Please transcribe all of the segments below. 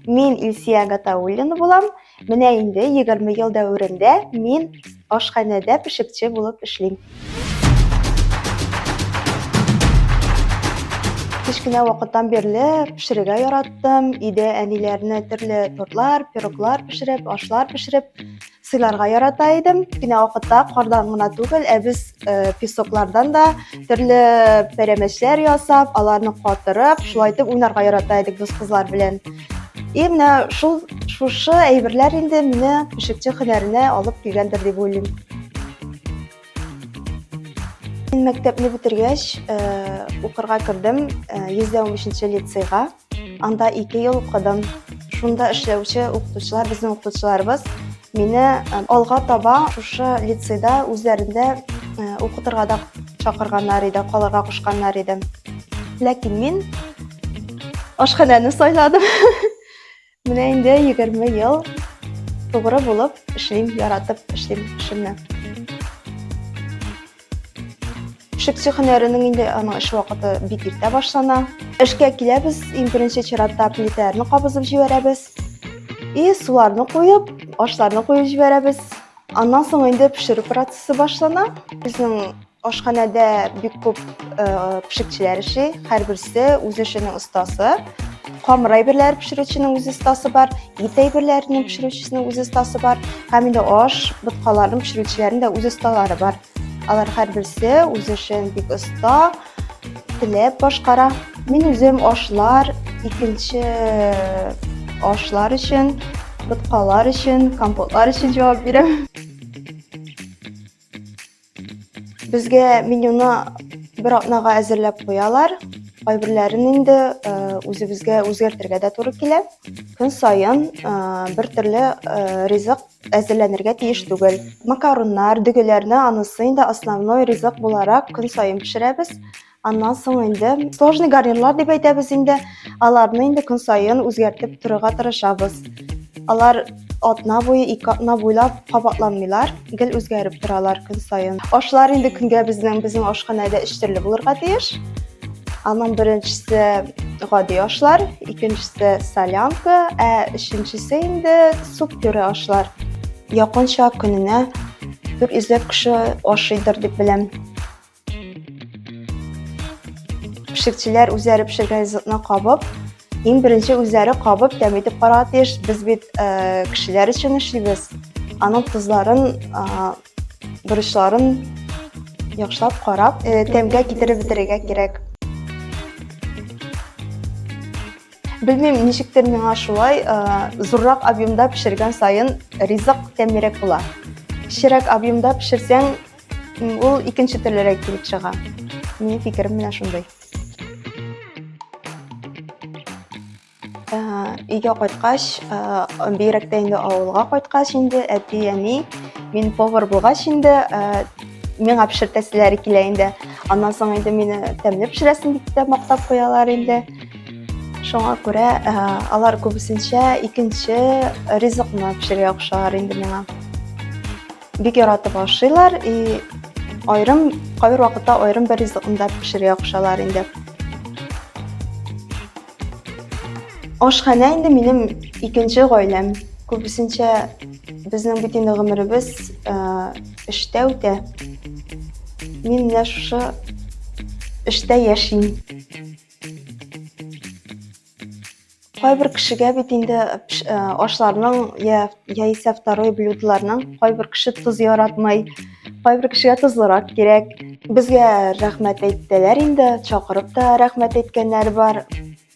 Мин Илсия Гатауллина булам. Менә инде 20 ел дәверендә мин ашханәдә пешекче булып эшлим. Кечкенә вакыттан бирле пешерергә яраттым. Өйдә әниләрне төрле тортлар, пироглар пешереп, ашлар пешереп сыйларга ярата идем. Кенә вакытта кардан гына түгел, ә без э, песоклардан да төрле пәрәмәчләр ясап, аларны катырып, шулай итеп уйнарга ярата идек дус кызлар белән. И менә шул шушы әйберләр инде мине пешекче һөнәренә алып килгәндер дип уйлыйм. Мин мәктәпне бетергәч, э, укырга кердем, э, 113 лицейга. Анда ике ел укыдым. Шунда эшләүче укытучылар, безнең укытучыларыбыз мине алга таба шушы лицейда үзләрендә укытырга да чакырганнар иде, калырга кушканнар иде. Ләкин мин ашханәне сайладым. Менә инде 20 ел тугры булып эшлим, яратып эшлим эшемне. Шепсю һөнәренең инде аның эш вакыты бик иртә башлана. Эшкә киләбез, иң беренче чиратта плитәләрне кабызып җибәрәбез. И суларны куеп, ашларны куеп җибәрәбез. Аннан соң инде пешерү процессы башлана. Безнең Ашханәдә бик күп пешекчеләр эшли, һәрберсе үз эшенең остасы. Камыр әйберләр пешерүченең үз остасы бар, ит әйберләрен пешерүчесенең үз остасы бар, һәм инде аш, боткаларын пешерүчеләрнең дә үз осталары бар. Алар һәрберсе үз эшен бик оста, теләп башкара. Мин үзем ашлар, икенче ашлар өчен, боткалар өчен, компотлар өчен җавап бирәм. Безгә менюны бер атнага әзерләп куялар. Кайберләрен инде э, үзебезгә үзгәртергә дә туры килә. Көн саен э, бер төрле э, ризык әзерләнергә тиеш түгел. Макаруннар, дөгеләрне анысы инде основной ризык буларак көн саен пешерәбез. Аннан соң инде сложный гарнирлар дип әйтәбез инде. Аларны инде көн саен үзгәртеп торырга тырышабыз. Алар атна буе, ике атна буйлап кабатланмыйлар, гел үзгәреп торалар көн саен. Ашлар инде көнгә безнең безнең ашханәдә өч төрле булырга тиеш. Аның беренчесе гади ашлар, икенчесе солянка, ә өченчесе инде суп пюре ашлар. Якынча көненә 400 кеше ашыйдыр дип беләм. Пешекчеләр үзләре пешергән ризыкны кабып, иң беренче үзләре кабып тәм итеп карарга тиеш. Без бит э, кешеләр өчен эшлибез. Аның тозларын, бурычларын яхшылап карап, э, тәмгә китереп бетерергә кирәк. Белмим, ничектер миңа шулай э, зуррак объемда пешергән сайын ризык тәмлерәк була. Кечерәк объемда пешерсәң, Ул икенче төрлерәк килеп чыга. Минем фикерем менә шундый. Өйгә кайткач, бигрәк тә инде авылга кайткач инде әти, әни, мин повар булгач инде миңа пешертәселәре килә инде. Аннан соң инде мине тәмле пешерәсең дип тә мактап куялар инде. Шуңа күрә э, алар күбесенчә икенче ризыкны пешерергә кушалар инде миңа. Бик яратып ашыйлар и айрым кайбер вакытта айрым бер ризыкны да пешерергә кушалар инде. Ашханә инде минем икенче гаиләм. Күбесенчә безнең бит инде гомеребез эштә үтә. Мин менә шушы эштә яшим. кайбер кешегә бит инде э, ашларның я яисә второй блюдоларның кайбер кеше тоз яратмый кайбер кешегә тозлырак кирәк безгә рәхмәт әйттеләр инде чакырып та рәхмәт әйткәннәр бар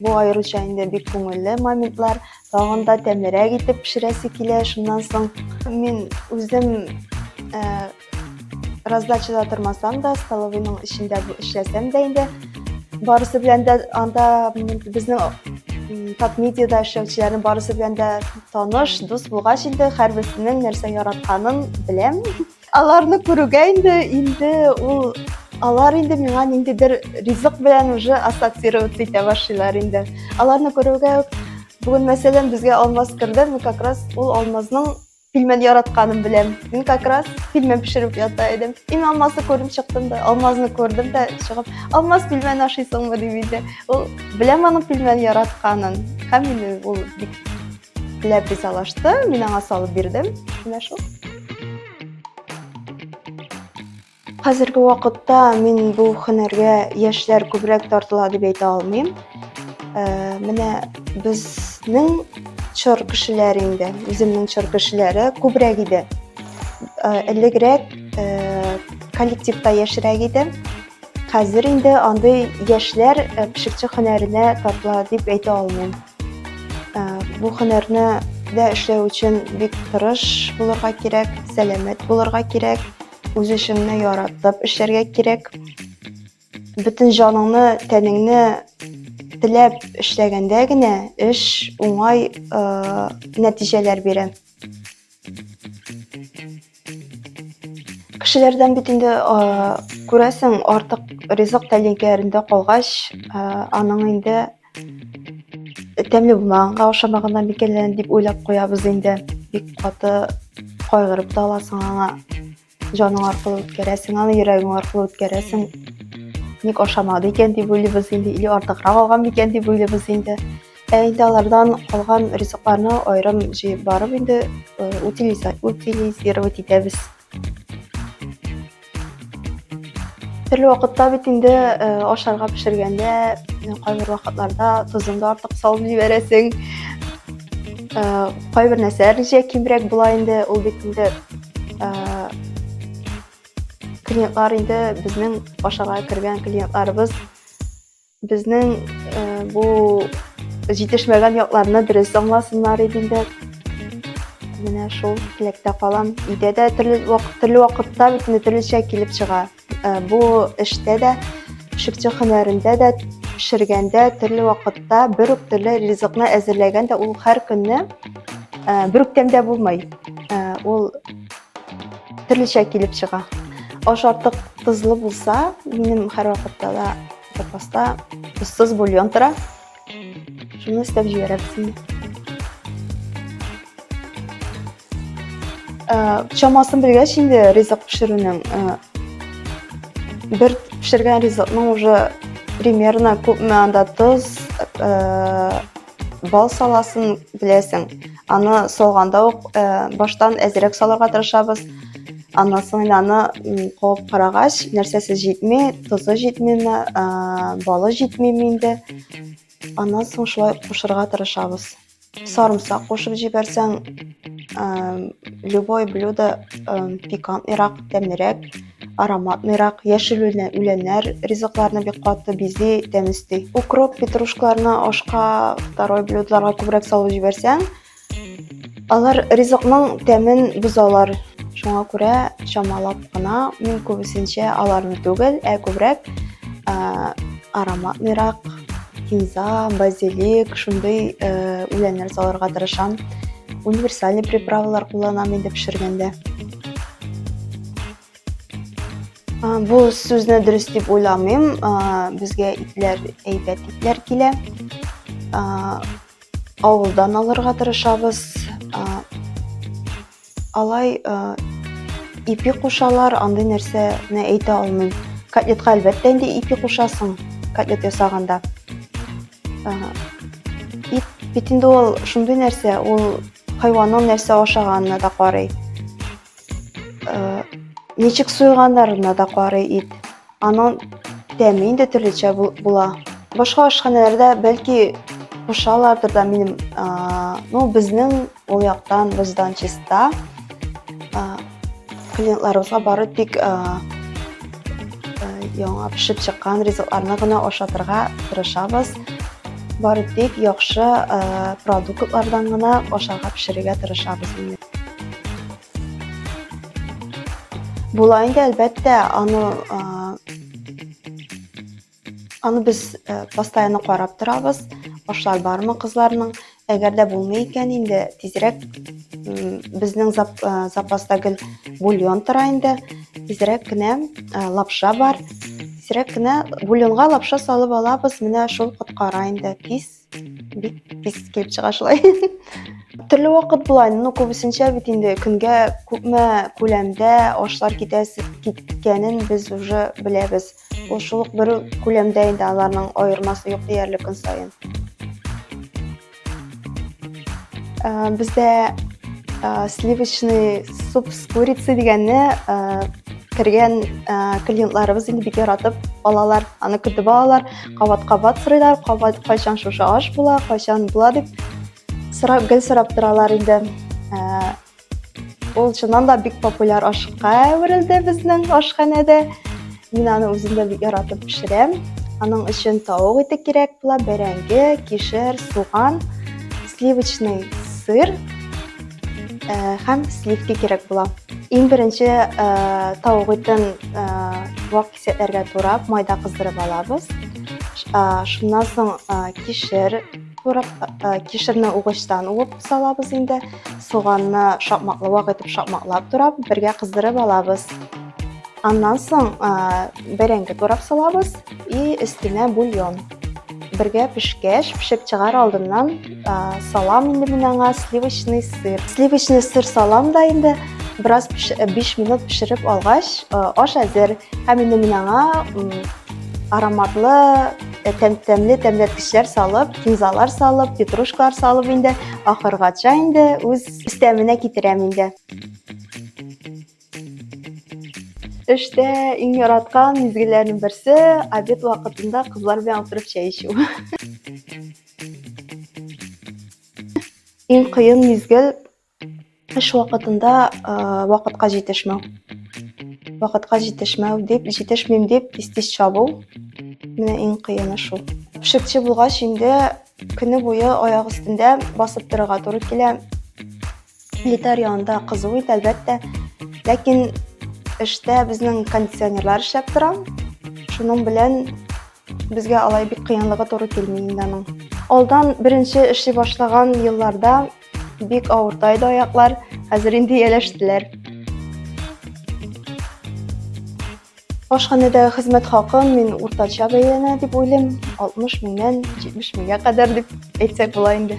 бу аеруча инде бик күңелле моментлар тагын да тәмлерәк итеп пешерәсе килә шуннан соң мин үзем э, Раздачада тормасам да, столовыйның эчендә эшләсәм дә инде, барысы белән дә анда безнең тап медиада эшләүчеләрнең барысы белән дә таныш, дус булгач инде һәрберсенең нәрсә яратканын беләм. Аларны күрүгә инде инде ул алар инде миңа ниндидер ризык белән уже ассоциировать итә башлыйлар инде. Аларны күрүгә үк бүген мәсәлән безгә алмаз керде, мы как раз ул алмазның Пилмән яратканым беләм. Мин как раз пилмән пешереп ята идем. Ин алмазны күреп чыктым да, алмазны күрдем дә чыгып, алмаз пилмән ашыйсыңмы дип иде. Ул беләм аның пилмән яратканын. Һәм мине ул бик ләп ризалашты. Мин аңа салып бирдем. Менә шул. Хәзерге вакытта мин бу һөнәргә яшьләр күбрәк тартыла дип әйтә алмыйм. Э, менә безнең чор кешеләре инде, үземнең чор кешеләре күбрәк иде. Э, элегрәк э, коллективта яшьрәк иде. Хәзер инде андый яшьләр пешекче һөнәренә тартыла дип әйтә алмыйм. Бу һөнәрне дә эшләү өчен бик тырыш булырга кирәк, сәламәт булырга кирәк. үз эшеңне яратып эшләргә кирәк бөтен җаныңны тәнеңне теләп эшләгәндә генә эш уңай ә, нәтиҗәләр бирә кешеләрдән бит инде күрәсең артык ризык тәлинкәләрендә калгач ә, аның инде тәмле булмаганга ошамаганнан микәнлән дип уйлап куябыз инде бик каты кайгырып та аласың аңа җаның аркылы үткәрәсең аны йөрәгең аркылы үткәрәсең ник ашамады икән дип уйлыйбыз инде или артыграк алган микән дип уйлыйбыз инде ә инде алардан калган ризыкларны аерым җыеп барып инде утилизировать итәбез Төрле вакытта бит инде э, ашарга пешергәндә э, кайбер вакытларда тозын да артык салып җибәрәсең. Э, кайбер нәрсәләр җә кимрәк була инде, ул бит инде клиентлар инде безнең ашарга кергән клиентларыбыз Безнең бу җитешмәгән якларны дөрес аңласыннар иде инде. Менә шул теләктә калам. Өйдә дә төрле вакыт төрле вакытта бит төрлечә килеп чыга. Бу эштә дә, пешекче һөнәрендә дә, пешергәндә төрле вакытта бер үк төрле ризыкны әзерләгән дә ул һәр көнне бер үк тәмдә булмый. Ул Төрлечә килеп чыга. Аш артык тозлы булса, минем һәрвакытта да запаста тозсыз бульон тора. Шуны өстәп җибәрәбез. Чамасын белгәч инде ризык пешерүнең бер пешергән ризыкның уже примерно күпме анда тоз, Бал саласын беләсең. Аны салганда ук баштан әзерәк салырга тырышабыз. Аннан соң аны куып карагач, нәрсәсе җитми, тозы җитмиме, балы җитмиме инде. Аннан соң шулай кушырга тырышабыз. Сарымсак кушып җибәрсәң, любой блюдо пикантныйрак, тәмлерәк. Аромат мирак, яшел үләннәр ризыкларны бик каты бизи, тәмести. Укроп, петрушкаларны ашка, второй блюдларга күбрәк салып җибәрсәң, алар ризыкның тәмен бозалар. Шуңа күрә чамалап кына мин күбесенчә аларны түгел, ә күбрәк аромат мирак, кинза, базилик, шундый үләннәр салырга тырышам. Универсальный приправалар кулланам инде пешергәндә. Бу сүзне дөрес дип уйламыйм. Безгә итләр әйбәт итләр килә. Авылдан алырга тырышабыз. Алай ипи кушалар, андый нәрсәне әйтә алмыйм. Котлетка әлбәттә инде ипи кушасың, котлет ясаганда. Ит бит инде ул шундый нәрсә, ул хайванның нәрсә ашаганына да карый. ничек суйганнарына да карый ит аның тәме инде төрлечә була башка ашханәләрдә бәлки кушалардыр да минем ну безнең ул яктан боздан чиста клиентларыбызга бары тик яңа пешеп чыккан ризыкларны гына ашатырга тырышабыз бары тик яхшы продуктлардан гына ашарга пешерергә тырышабыз Була инде, әлбәттә, аны аны без постоянно карап торабыз. Башлар бармы кызларның? Әгәр дә булмый икән, инде тизрәк безнең запаста гел бульон тора инде. Тизрәк кенә лапша бар. Тизрәк кенә бульонга лапша салып алабыз. Менә шул коткара инде. Кис бик пис килеп чыга шулай төрле вакыт була ну күбесенчә бит инде көнгә күпме күләмдә ашлар китәсе киткәнен без уже беләбез ул шул ук бер күләмдә инде аларның аермасы юк диярлек көн саен ә, бездә ә, сливочный суп с курицей дигәнне ә, кергән ә, клиентларыбыз инде бик яратып алалар аны көтеп алалар кабат-кабат сорыйлар, кабат кайчан шушы аш була, кайчан була дип сорап, гел сорап торалар инде. Ә, ул чыннан да бик популяр ашка әверелде безнең ашханәдә. Мин аны үзем дә бик яратып пешерәм. Аның өчен тавык ите кирәк була, бәрәңге, кишер, суган, сливочный сыр ә, һәм сливки кирәк була. Иң беренче ә, тавык итен ә, вак Сөтләргә турап, майда кыздырып алабыз. Шуннан соң кишер турап, кишерне угычтан уып салабыз инде. Суганны шапмаклы вак итеп шапмаклап турап, бергә кыздырып алабыз. Аннан соң бәрәңге турап салабыз и өстенә бульон. Бергә пешкәч, пешеп чыгар алдыннан салам инде мин аңа сливочный сыр. Сливочный сыр салам да инде бераз 5 минут пешереп алгач, аш әзер. Һәм инде мин аңа ароматлы тәмле тәмләткечләр салып, кинзалар салып, петрушкалар салып инде ахыргача инде үз истәменә китерәм инде. Эштә иң яраткан мизгелләрнең берсе обед вакытында кызлар белән утырып чәй эчү. Иң кыен мизгел эш вакытында вакытка җитешмәү. Вакытка җитешмәү дип, җитешмим дип тиз-тиз чабу. Менә иң кыены шул. Пешекче булгач инде көне буе аяк өстендә басып торырга туры килә. Плитар янында кызу ит, әлбәттә. Ләкин эштә безнең кондиционерлар эшләп тора. Шуның белән безгә алай бик кыенлыгы туры килми инде аның. Алдан беренче эшли башлаган елларда бик авырта иде аяклар, хәзер инде ияләштеләр. Ашханәдәге хезмәт хакын мин уртача бәяләнә дип уйлыйм, 60 меңнән 70 меңгә кадәр дип әйтсәк була инде.